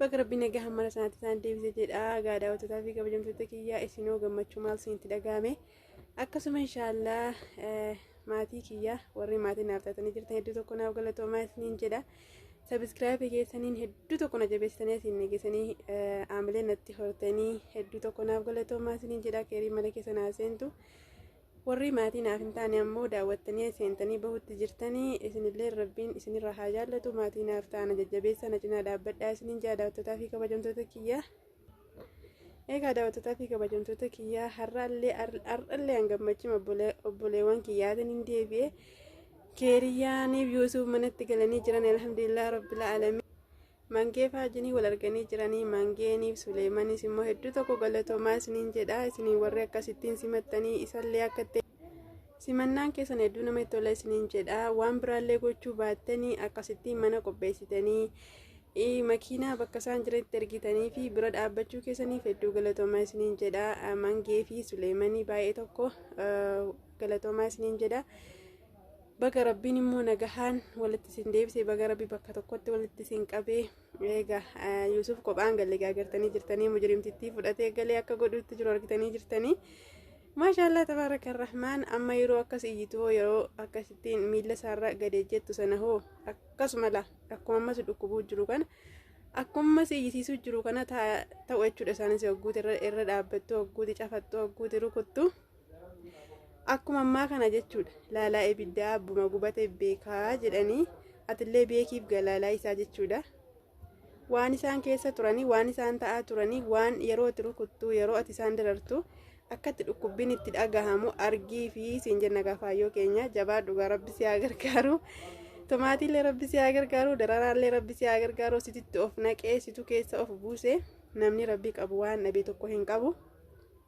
Baga rabbiin nagaa hammana sanatti isaan deebise jedha gaadaa hojjetaa fi kabajamtoota kiyyaa isinoo gammachuu maal isinitti dhaga'ame akkasuma inshaallah maatii kiyyaa warri maatii naaf taatanii jirtan hedduu tokko naaf galatoomaa isiniin jedha sabiskiraabii keessaniin hedduu tokko na jabeessitanii asiin nageessanii aamilee natti hortanii hedduu tokko naaf galatoomaa isiniin jedha keerii mana keessa naa seentu Warrii maatii naaf hin taane ammoo daawwattanii seentanii bahutti jirtanii isinillee rabbiin isinirra haa jaallatu maatii naaf ta'ana jajjabeessa na cinaa dhaabbadhaa isiniin jaa daawwattootaa fi kabajamtoota kiyyaa. Egaa daawwattootaa fi kabajamtoota kiyyaa har'allee har'allee an gammachuu obboleewwan kiyyaatiin hin deebi'e. Keeriyyaaniif Yuusuf manatti galanii jiran alhamdulillah rabbil alamin. Mangee fi Haajinii wal arganii jiranii Mangeeniif Suleemanis immoo hedduu tokko galatoomaa isiniin jedha isinii warri akkasittiin simattanii isallee akka ta'e simannaan keessan hedduu nama itti tola isiniin jedha waan biraallee gochuu baattanii akkasittiin mana qopheessitanii makiinaa bakka isaan jiranitti ergitanii fi bira dhaabbachuu keessaniif hedduu galatoomaa isiniin jedha Mangee fi Suleemanii baay'ee tokko galatoomaa isiniin jedha. Baga rabbiin immoo nagahaan walitti isin deebisee baga rabbi bakka tokkotti walitti isin qabee eega Yuusuf kophaan galee gaagartanii jirtanii mujrimtittii fudhatee galee akka godhuutti jiru argitanii jirtanii. Maashaallah tabaaraka rahmaan amma yeroo akkas iyyitu hoo yeroo akkasittiin miila isaarra gadee jettu sana hoo akkasuma la akkuma ammas dhukkubuu jiru kana akkuma iyyisiisuu jiru kana ta'u jechuudha isaanis hogguuti irra dhaabbattu hogguuti cafattu hogguuti rukuttu akkuma ammaa kana jechuudha laalaa ibiddaa abbuma gubate beekaa jedhanii atillee beekiif galaalaa isaa jechuudha waan isaan keessa turanii waan isaan ta'aa turanii waan yeroo itti rukuttuu yeroo ati isaan darartu akkatti dhukkubbiin itti dhagahamu argii fi siin jenna gaafaayyoo keenya jabaa dhugaa rabbi si haa gargaaru tomaatiillee rabbi si haa gargaaru dararaallee rabbi si haa gargaaru sititti of naqee situ keessa of buuse namni rabbi qabu waan dhabe tokko hin qabu.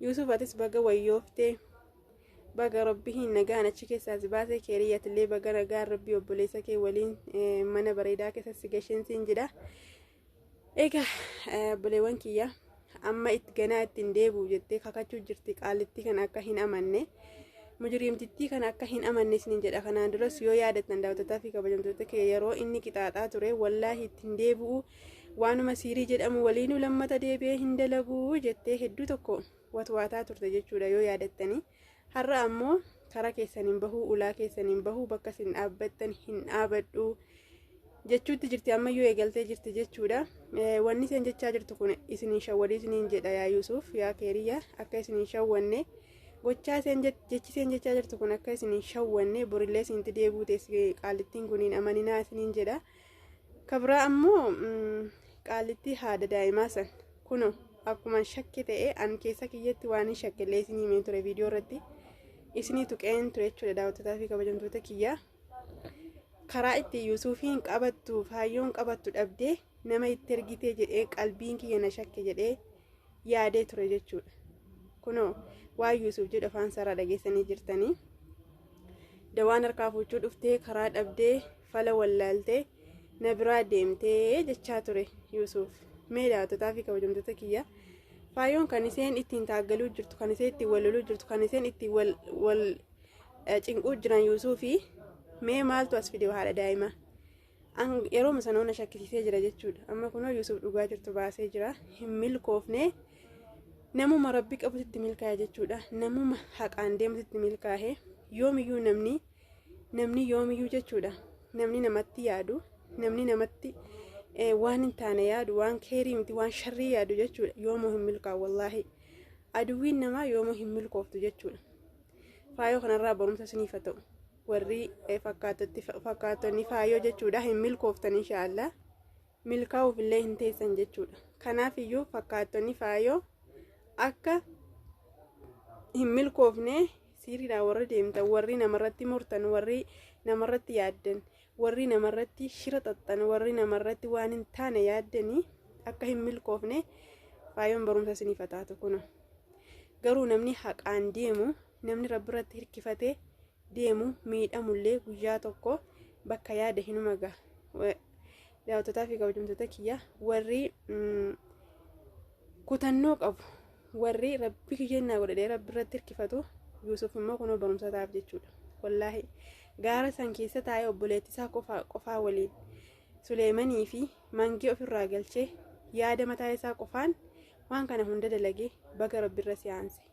Yuusuf atis baga wayyoofte baga rabbiin nagaan achi keessaa si baase keeriyyaatillee baga nagaan rabbii obboleessa kee waliin eh, mana bareedaa keessa si gasheen siin jedha. Egaa eh, obboleewwan kiyya amma itti ganaa ittiin deebi'u jettee kakachuu jirti qaalittii kana akka hin amanne. Mujiriimtittii kana akka hin amanne isiniin jedha kanaan duras yoo yaadattan daawwattotaa fi kabajamtoota kee yeroo inni qixaaxaa ture wallaahi ittiin deebi'u waanuma siirii jedhamu waliinuu lammata deebi'ee hin dalaguu jettee hedduu tokko watwaataa turte jechuudha yoo yaadattanii har'a ammoo karaa keessaniin bahuu ulaa keessaniin bahuu bakka isin dhaabbattan hin dhaabadhu jechuutti jirti ammayyuu eegaltee jirti jechuudha wanni isin jechaa jirtu kun isin hin shawwadii isiniin jedha yaa yuusuuf yaa keeriyya akka isin hin shawwanne gochaa isin jechi isin jechaa jirtu kun akka isin hin shawwanne borillee isinti deebuu teessi qaalittiin kun hin amaninaa isiniin jedha. kabraa ammoo qaalittii haadha daa'imaa san kuno akkuma shakke ta'e an keessa kiyyatti waan hin shakkellee isinii himee ture viidiyoo irratti isinii tuqeen ture jechuudha daawwattotaa fi kabajamtoota kiyyaa karaa itti yuusuufiin qabattu faayyoon qabattu dhabdee nama itti ergitee jedhee qalbiin kiyya na shakke jedhee yaadee ture jechuudha kuno waan yuusuuf jedhu afaan isaarraa dhageessanii jirtanii dawaan harkaa fuuchuu dhuftee karaa dhabdee fala wallaaltee na biraa deemtee jechaa ture yuusuuf mee daawwattotaa fi kabajamtoota kiyya faayoon kan isheen ittiin taaggaluu jirtu kan isheen ittiin walloluu jirtu kan isheen ittiin wal wal eh, cinquu jiran yuusuufi mee maaltu as fide haadha daa'ima An- yeroo sanoo na shakkisiisee jira jechuudha amma kunoo yuusuuf dhugaa jirtu baasee jira hin milkoofne namuma rabbi qabutti milkaa'e jechuudha namuma haqaan deemutti milkaa'e yoomiyyuu namni Namni yoomiyyuu jechuudha namni namatti yaadu namni namatti waan hin taane yaadu waan keerii miti waan sharrii yaadu jechuudha yoomuu hin milkaa'u wallaahi aduwwiin namaa yoomuu hin milkooftu jechuudha faayoo kanarraa barumsa isiniif haa ta'u warri fakkaatonni faayoo jechuudha hin milkooftan inshaallah. milkaa'uuf illee hin teessan jechuudha. Kanaaf iyyuu fakkaattonni faayoo akka hin milkoofne siiriidhaan warri deemtan warri namarratti murtan warri namarratti yaaddan warri namarratti shira xaxxan warri namarratti waan hin taane yaaddanii akka hin milkoofne faayoon barumsa isiniif taatu kuno. Garuu namni haqaan deemu namni rabbi irratti hirkifatee deemu miidhamullee guyyaa tokko bakka yaade hinuma gaha. Daawwattotaa fi kabajamtoota kiyya warri kutannoo qabu warri rabbi kiyyannaa godhadhee rabbi irratti hirkifatu Yuusuf immoo kunoo barumsa ta'aaf jechuudha. Wallaahi gaara san keessa taa'ee obboleettii isaa qofaa qofaa waliin Suleemanii fi mangee ofirraa galchee yaada mataa isaa qofaan waan kana hunda dalagee baga rabbi irra siyaanse.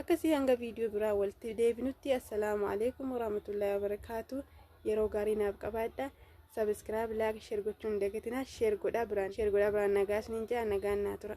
akkasii hanga viidiyoo biraa walitti deebinutti assalaamu alaikum warahmatullahi wabarakaatu yeroo gaarii naaf qabaadha sabiskiraab laak sheer gochuun dagatinaa sheer godhaa biraan sheer godhaa biraan nagaa isiniin ja'a nagaan naa tura